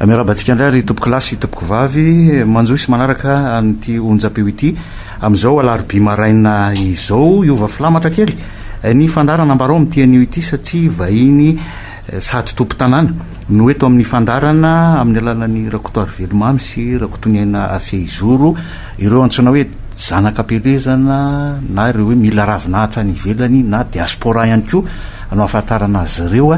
Miarahaba antsika indray ry tompoko lahy sy tompoko vavy manjohy sy manaraka an'ity onjam-peo ity amin'izao alarobia maraina izao. Hiova filamatra kely ny fandaharana ambarao amin'ity anio ity satria vahiny sady tompon-tanàna no eto amin'ny fandaharana amin'ny alalan'i Rakotoarivelomamy sy Rakotoniaina Fehizoro ireo antsoina hoe zanak'Ampelezana na ireo hoe mila ravinahitra any ivelany na diaspora ihany koa no ahafantarana azy ireo.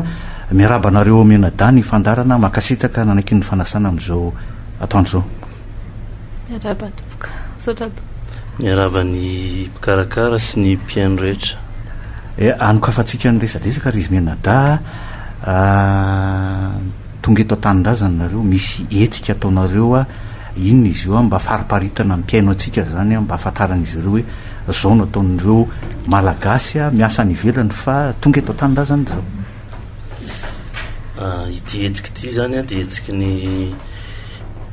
Miarahaba anareo ao Mianadahy ny fandaharana, mankasitraka nanaiky ny fanasana amin'izao atoandro izao. Miarahaba tompoko. Misaotra tompoko. Miarahaba ny mpikarakara sy ny mpihaino rehetra. Eh, anokafantsika ny resadresaka ry izy Mianadahy a! Tonga eto an-tanindrazana nareo, misy hetsika ataonareo a! Inona izy io a? Mba fariparitana ny mpihaino antsika izany a, mba ahafantaran'izy ireo hoe. Zao no ataon'ireo Malagasy miasa any ivelany fa tonga eto an-tanindrazana izao. Ity hetsika ity izany dia hetsiky ny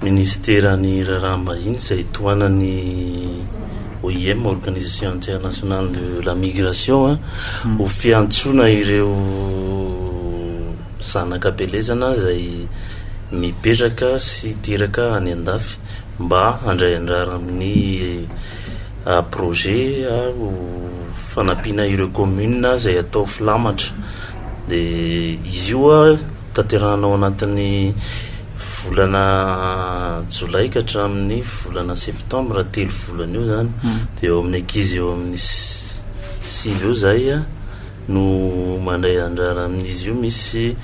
Minisiteran'ny Raharaham-bahiny izay tohanan'ny OIM, Organisation Internationale de la Migration, hmm. ho fiantsoana ireo zanaka belezana izay mipetraka sy teraka any an-dafy mba handray andrara amin'ny projet ho fanampiana ireo communes izay hatao filamatra dia izy io tanterahina ao anatin'ny volana jolay ka hatramin'ny volana septembre telo volana eo izany dia eo amin'ny ankizy eo amin'ny sivy eo izay no mandray anjara amin'izy io misy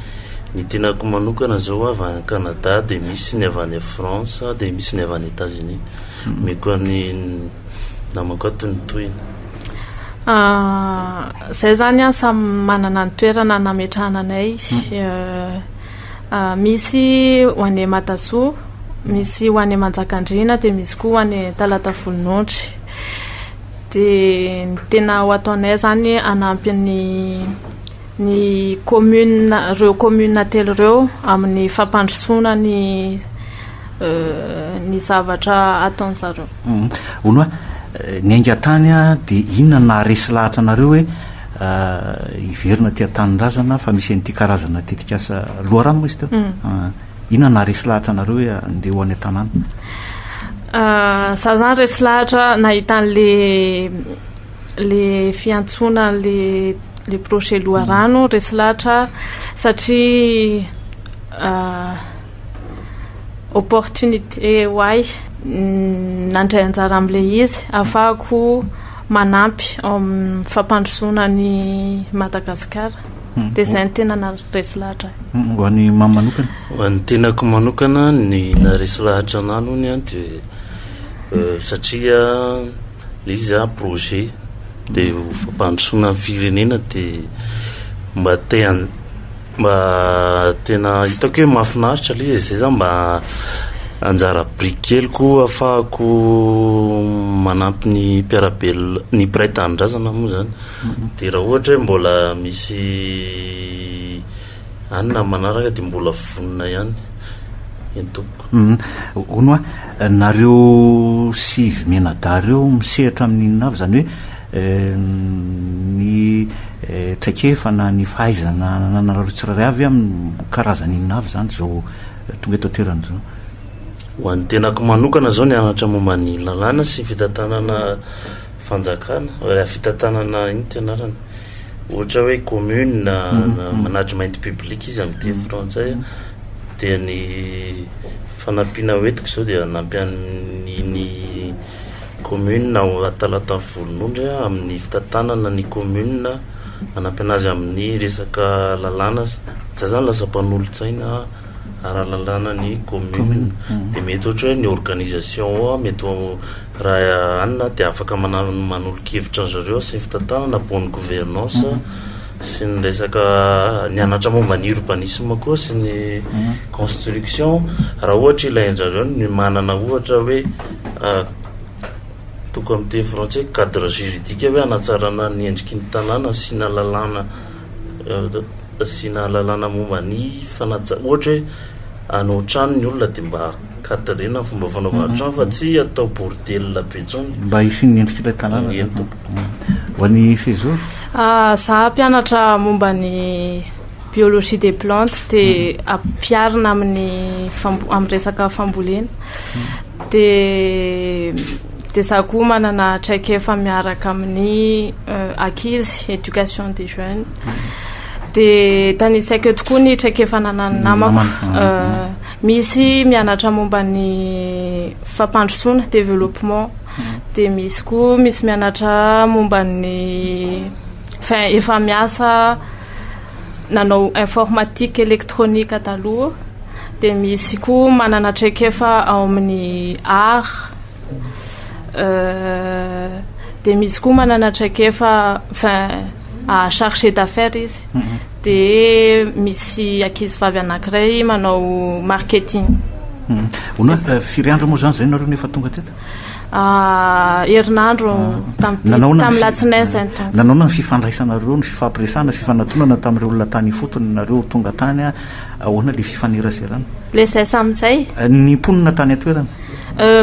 ny tenako manokana zao avy any Canada de misy ny avy any France de misy ny avy any Etats Unis mm-hmm. omeko an'ny namako ato ny tohiny ah, zay zany an samy manana ny toerana nametrahana anay mm-hmm. eh, ah, misy ho any matasoa misy ho any manjakandriana de misy koa ho any talata volonondry Dia ny tena ho ataonay izany hanampy ny ny commune ireo commune telo ireo amin'ny fampandrosoana ny ny zavatra ataon'ny zareo. Hono aho ny ainga tany dia inona naharesy lahatra anareo hoe hiverina aty an-tanindrazana fa misy an'ity karazana tetikasa loharano moa izy teo? Inona naharesy lahatra anareo hoe andeha ho any an-tanàna? Za zany resy lahatra nahita an'le le fiantsoana le le projet loharano mm. resy lahatra satria euh, opportunité ho ahy mm, nandray anjara amin'le izy afahako manampy amin'ny fampandrosoana ny Madagasikara. mm. de zay ny tena naresy lahatra ahy mm, ho an'ny mamy manokana ho an'ny tenako manokana ny naresy lahatra ana aloha ny an de euh, satria le izy a projet de fampandrosoana ny firenena de mba tean mba tena hitako hoe mahafinaritra le zay za mba anjara briky kely ko afahako manampy ny mpiarabel ny mpiray tanindrazana moa zany Dia raha ohatra hoe mbola misy any na manaraka dia mbola vonona ihany ny tompoko. Hono hoa, nareo sivy mianadahy ireo misehatra amin'ny inona avy? Izany hoe ny traikefa na ny fahaizana anananareo tsirairay avy amin'ny karazana inona avy izany izao tonga eto an-toerana izao? Ho an'ny tenako manokana izao nianatra momba ny lalàna sy fitantanana Fanjakana, raha fitantanana inn ty anarany? Ohatra hoe commune na management public izy amin'ny teny frantsay a, dia ny fanampiana ho entiko izao dia hanampy an'iny commune ao Talata Volonondry aho amin'ny fitantanana ny commune hanampy anazy amin'ny resaka lalàna, za zany lasa mpanolotsaina ara-lalàna ny commune dia mety ohatra hoe ny organisation ao mety ho Raha anona dia afaka manolo-kevitra an-dry zareo sy ny fitantanana, bonne gouvernance, sy ny resaka nianatra momba ny urbanisme koa sy ny construction. Raha ohatra ilain-dry zareo ny manana ohatra hoe toko amin'ny teny frantsay hoe cadre juridique hoe hanatsarana ny endriky ny tanàna, asiana lalàna, asiana lalàna momba ny fanajana, ohatra hoe hanao trano ny olona dia mba. Cadre na fomba fanaovana trano fa tsy atao bordel be tsony. Mba hisian'ny endrik'ilay tanàna zany tompoko. Ho an'i Sezoro? Za mpianatra momba ny biologie des plantes dia ampiharina amin'ny fambo- amin'ny resaka fambolena. Dia dia za koa manana traikefa miaraka amin'ny ankizy, éducation des jeunes. Dia tanisaiko eto koa ny traikefa ananan'ny namako. Misy mianatra momba ny fampandrosoana, développement, dia misy koa misy mianatra momba ny enfin efa miasa nanao informatique électronique taloha, dia misy koa manana traikefa ao amin'ny art. dia misy koa manana traikefa enfin chargé d'affaires izy mhm. dia misy ankizy vavy anankiray manao marketing mhm. ono euh, firy andro moa zany zay nareo nefa tonga teto ah, herinandro ah. tamin'ny latsinain zay nanaona ny fifandraisanareo ny fifampiresana fifanatonana tamin'ireo olona tany ifotony nareo tonga tany ahoana le fifaneraserana le zay sam'izay eh, ny mponina tany atoerana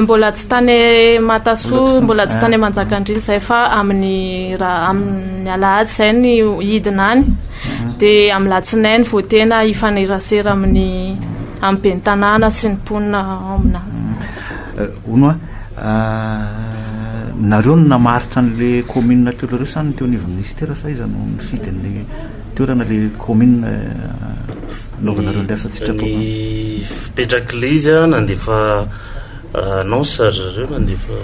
Mbola tsy tany Matasoa, mbola tsy tany Manjakandriana izay fa amin'ny raha amin'ny alahady izay ny hidina any. Mhm. Dia amin'ny latsinainy vao tena hifanerasera amin'ny amin'ny ben'ny tanàna sy ny mponina ao aminà. Hono mhm. euh, euh, nareo no namaritra an'le commune teo leroa sa ny teo anivon'ny ministera sa iza no nifidy ny toerana le commune euh, anaovanareo ny asa an-tsitrapo. Ny fipetraklzy nandefa annonce ry zareo nandefa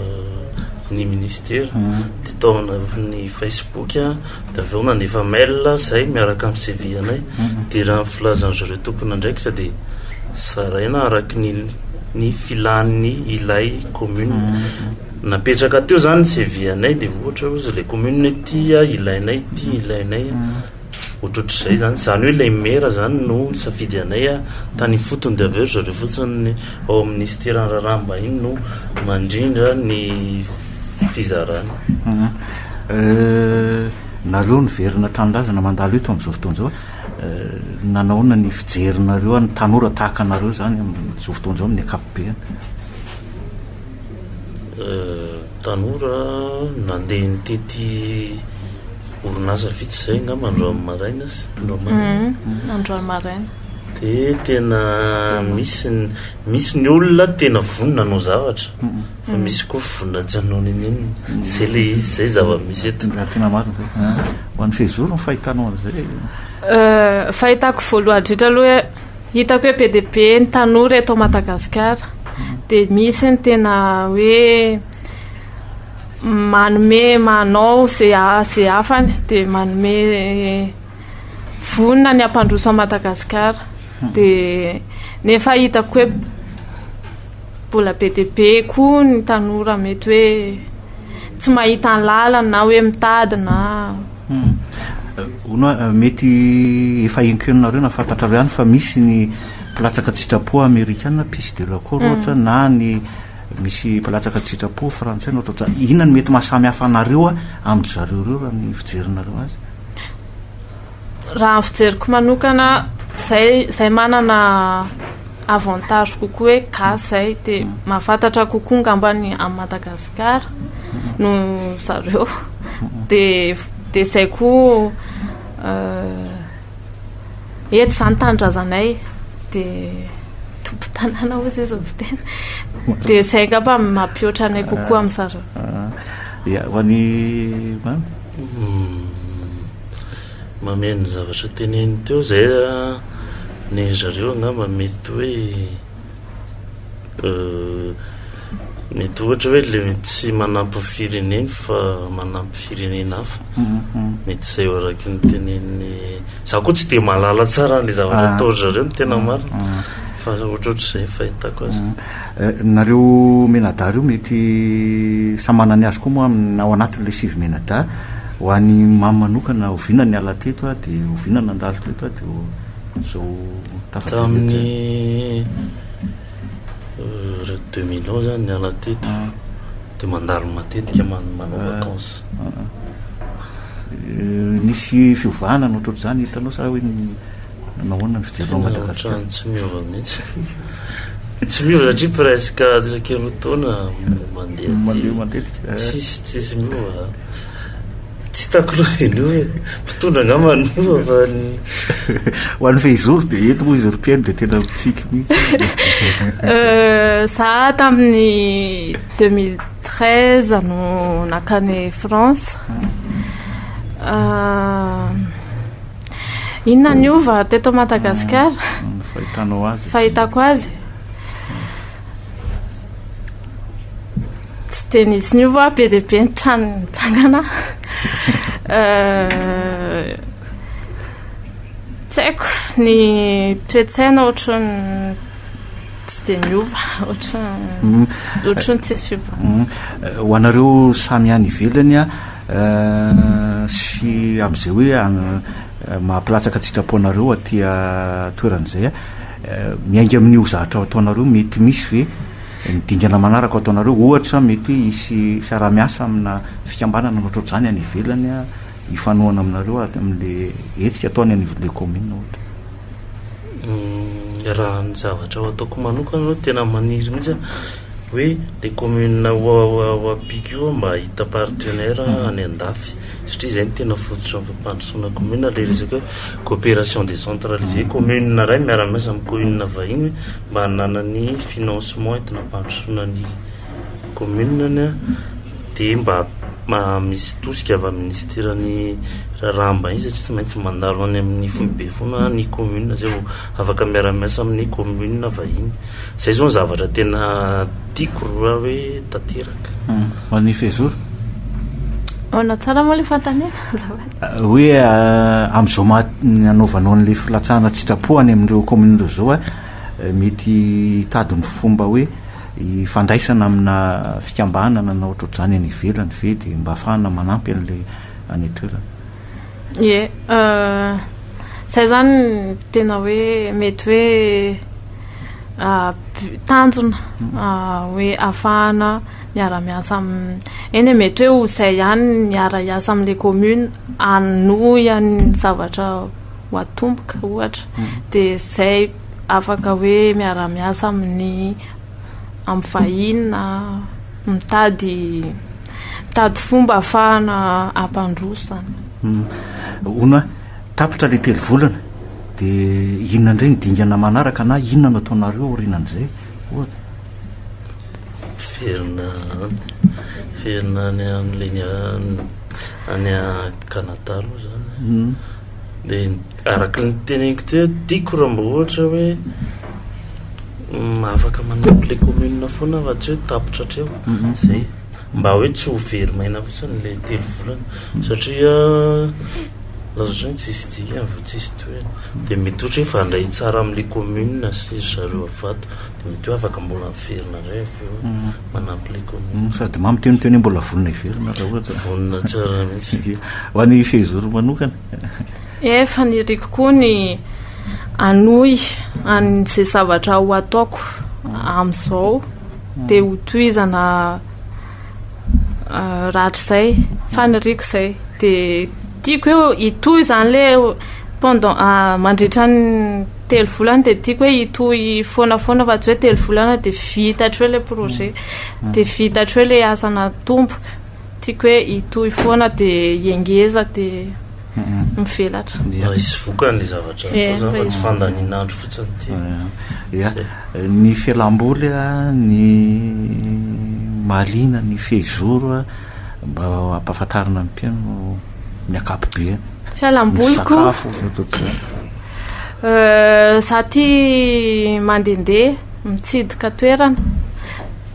ny ministera hmm. dia tao anatin'ny facebook dia avy eo nandefa mail zay miaraka amin'ny cv anay hmm. dia raha ny filazan'ny zareo tokony andraikitra dia zaraina araka ny ny filan'ny ilay commune hmm. napetraka teo zany ny cv anay dia ohatra ozy ilay commune tia ilainay tia ilainay Ohatrohatr'izay zany, zany hoe ilay maire zany no nisafidy anay a, tany ifotony dia avy eo ry zareo fotsiny ny ao amin'ny minisiteran'ny raharaham-bahiny no mandrindra ny fizarana. Nareo niverina an-tanindrazana mandalo eto amin'izao fotoana izao, nanaona ny fijerinareo an'ny tanora tahaka anareo izany amin'izao fotoana izao amin'ny ankapobeny? Tanora nandeha nitety. orinasa vitsy izay angamba androany maraina sy androany maraina mhm, androany maraina dia tena misy misy ny olona tena vonona anao zavatra mhm. fa misy koa vonona tsy anao nenenina mhm. zay le izy zay zava-misy eto tena marina zay ah. ho an'ny fehizoro ny fahitanao an'izay euh, fahitako voalohany dritra aloha hitako hoe be dia be ny tanora eto madagasikara dia misy ny tena hoe manome manao izay hafany dia manome vonona ny hampandroso an'i Madagasikara dia nefa hitako hoe mbola be dia be koa ny tanora mety hoe tsy mahita ny lalany na hoe mitady na hono a mety efa enkenonareo na fantatrareo ihany fa misy ny mpilatsaka an-tsitrapo amerikana pisy de la cour ohatra na ny Misy mpilatsaka tsy sitrapo frantsay no tao. Inona no mety mahasamy hafa anareo amin-dry zareo ireo raha ny fijerinareo azy? Raha ny fijeriko manokana, zay zay manana avantage kokoa hoe gasy zay dia mm. mahafantatra kokoa ngamba ny amin'i Madagasikara no zareo. Dia dia zay koa euh, Eto izany tanindrazanay dia tompontanàna hoy izay izany fiteny. Dia izay angamba mampihoatra anay kokoa amin'ny zareo. Ia, ho an'i Mamy? Mameno zavatra teneniny teo izay, ny zareo angamba mety hoe. mety ohatra hoe le tsy manampy ny fireneny fa manampy firenena hafa mety izay ho araky ny teneniny za koa tsy de malala tsara an'le zavatra ah. ataory zareo ny tena mm, marina mm. fa ohatraohatr' izay fahitako azy mm. eh, nareo menada reo mety samana ny azy koa moa aminy ao anatin'le sivy menada ho any mamy manokana oviana ny ala teto a de oviana nandalo teto a de Tamin'ny deux mille onze aho niala teto de mandalo matetika manao vacances. Nisy fiovana ny ohatrohatr'izany hitanao sa hoe nahoana ny fijerinao an'i Madagasikara? Ohatran'ny tsy miova mihitsy. Tsy miova satria presque isaky ny roa taona mandeha aty. Mandeha matetika. Tsisy tsisy miova. Tsy hitako aloha dia ny hoe mpitondra angamba ny loha fa ny Ho an'ny fehizoro dia eto moa izy Rupiani dia tena mitsiky mihitsy. Euh, za tamin'ny 2013 no nakany France. Ah, inona niova teto Madagasikara? Ny fahitanao azy. Fahitako azy. Tsy dia nisy niova, be dia be ny trano nitsangana. Tsy haiko, ny toe-tsaina ohatran'ny tsy dia niova, ohatran'ny mm. ohatran'ny tsisy fiovana. Mm. Eh, ho anareo samy any ivelany a eh, sy amin'izay hoe eh, mahapilatsaka tsitrapo anareo aty toeran'izay a miainga amin'io zahatra ao ataonareo mety misy ve Ny dingana manaraka ho ataonareo, ohatra, mety hisy fiaraha-miasa amina fikambanana ohatrohatr'izany any ivelany hifanohana aminareo amin'ilay hetsika ataony anivon'ilay kaominina, ohatra. Raha ny zavatra ho ataoko manokana aloha, tena maniry mihitsy aho hoe ilay kaominina ho ampiako io aho mba hahita partenaire any an-dafy, satria izay no tena fototry ny fampandrosoana kaominina, ilay resaka hoe coopération décentralisée, kaominina iray miara-miasa amin'ny kaominina vahiny. mba hananany ny financement entina hampandrosoana ny commune-ny dia mba misy tosika avy amin'ny ministeran'ny raharaham-bahiny satria tsy maintsy mandalo any amin'ny foibe foana ny commune izay vao afaka miara-miasa amin'ny commune vahiny. Izay izao no zavatra tena tiako raha hoe tanteraka. Ho an'i Fezura? Manao tsara moa ilay fanontaniana azafady. Hoe amin'izao maha anaovanao an'ilay filatsahana an-tsitrapo any amin'ireo kaominina ireo izao aho, mety hitady ny fomba hoe hifandraisana amina fikambanana na ohatrohatr'izany any ivelany ve dia mba ahafahana manampy an'ilay any an-toerana. Ie, izay izany no tena hoe mety hoe tanjona hoe ahafahana. miara-miasa amin'ny, eny e, mety hoe ho izay ihany ny miara-hiasa amin'ilay commune hanohy an'ny zavatra ho atomboka ohatra, hmm. dia izay afaka hoe miara-miasa amin'ny amin'ny vahiny na mitady mitady fomba ahafahana hampandroso izany. Hmm. Hono tapitra ilay telo volana dia inona indray ny dingana manaraka na inona no ataonareo aorianan'izay ohatra? Miverina any, miverina any an'ilay ny any Canada aloha zany. Hmm. Dia araka ny teneniko teo, tiako raha mba ohatra hoe afaka manompo le commune foana fa tsy hoe tapitra hatreo mhm. zay mba hoe tsy ho very maina fotsiny le telo volana mhm. satria lazatry ny tsisy dikany vao tsisy toerana dia mety ohatra hoe fandray tsara amin'le commune sy zareo avato Mety hoe afaka mbola averina indray avy eo manampy ilay commune. Sady mamy teo ny teo anie mbola vonona hiverina raha ohatra. Vonona tsara mihitsy. Dia ho an'i Fehizoro manokana. Eh, faniriako koa ny hanohy an'izay zavatra ho ataoko amin'izao dia ho tohizana rahatrizay. Faniriako izay. Dia tiako hoe hitohy izany ilay pendant mandritra ny. telo volana dia tiako hoe hitohy foana foana fa tsy hoe telo volana dia vita hatreo ilay projet mm. dia vita hatreo ilay asa natomboka tiako hoe hitohy foana dia iengeza dia mivelatra mba hisy vokany le zavatra eh, atao zany fa tsy fandanin'andro fotsiny ty eh, eh, ny fialamboly a ny malina ny fehizoro a Mba ampahafantarina ny mpihaino ny ankapobeny. Fialamboliko. Za ty mandende mitsidika toerana.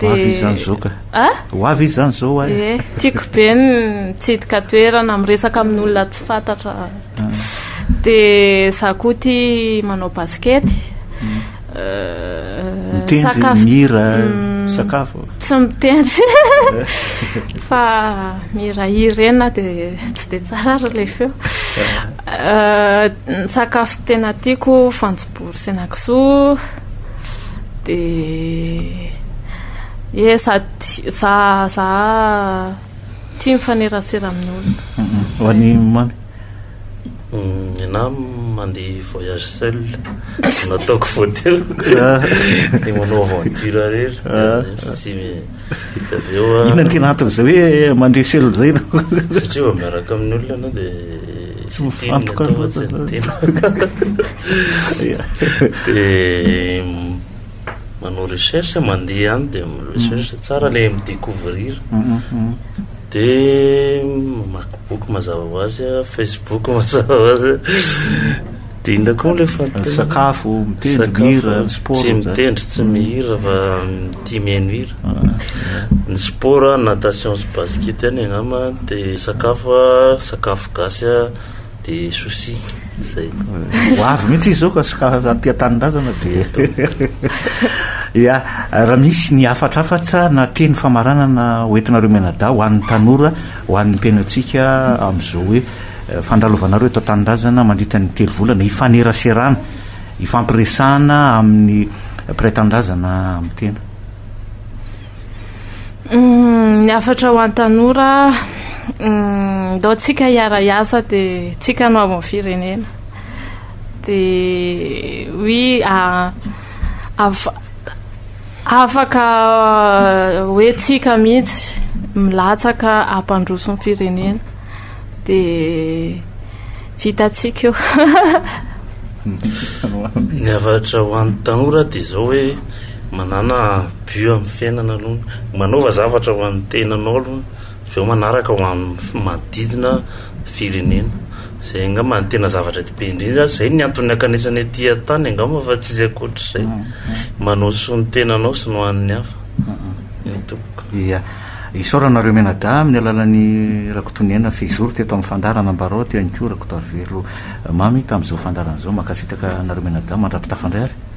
Ho avy izy zany zao ka. Ah? Ho avy izy zany zao ay. Eh, tiako be ny mitsidika toerana, miresaka amin'olona tsy fantatra. Ah. De za koa ty manao basikety. Mm. Mitendry, mihira, misakafo. Mm, tsy mitendry. Fa mihirahira eny na dia tsy dia tsara ary ilay feo. Ny sakafo tena tiako fanjobory sy henakisoa. Dia ie za za Tia mifanerasera amin'olona. Ho an'i Mamy? Ny anah mandeha voyage seul no ataoko vao teo dia manao aventure irery fa tsy dia avy eo an. Inona no tena anton'izay hoe mandeha seul izay no. Satria vao miaraka amin'olona ianao dia tsy mifantoka loatra. Dia. manao recherche mandeha any de recherche mm. tsara le mi-découvrir de mamaky boky mazava ho azy facebook mazava ho azy de inona koa le fasakafo mitendry mihira sport tsy mitendry tsy mihira fa tia mihaino hira ny sport natation sy basket any agnama de sakafo sakafo gasy de souci zay ho avy mihitsy izy zao ka ska aty an-tanindrazana de ya raha misy ny hafatrafatra na teny famaranana hoentinareo menada ho an'ny tanora ho an'ny mpiainatsika amin'izao hoe eh, fandralovanareo eto an-tanindrazana mandritra ny telo volana hifaneraserana ifampiresahana amin'ny mpiray tanindrazana amin'ny tena Mm, ny hafatra ho an-tanora mm, ndao tsika hiara-hiasa dia tsika no amin'ny firenena dia oui ah, afaka ah, hoe tsika mihitsy milatsaka ampandroso ny firenena dia vitatsika io ny hafatra ho an-tanora dia izao hoe manana Bio amin'ny fiainana aloha, manaova zavatra ho an'ny tenanao aloha, avy eo manaraka ho amin'ny manodidina firenena, izay angamba no tena zavatra be indrindra, izay no antony hankanesana ety an-tany angamba fa tsisy ankoatr'izay, manao ny soa ny tenanao sy ny ho an'ny hafa no tompoko. Ia, isaorana anareo mianadahy amin'ny alalan'i Rakotoniaina Fehizoro teto amin'ny fandaharana Ambarao aty ihany koa Rakotoarivelo Mamy tamin'izao fandaharana izao, mankasitraka anareo mianadahy mandra-pitafandray ary.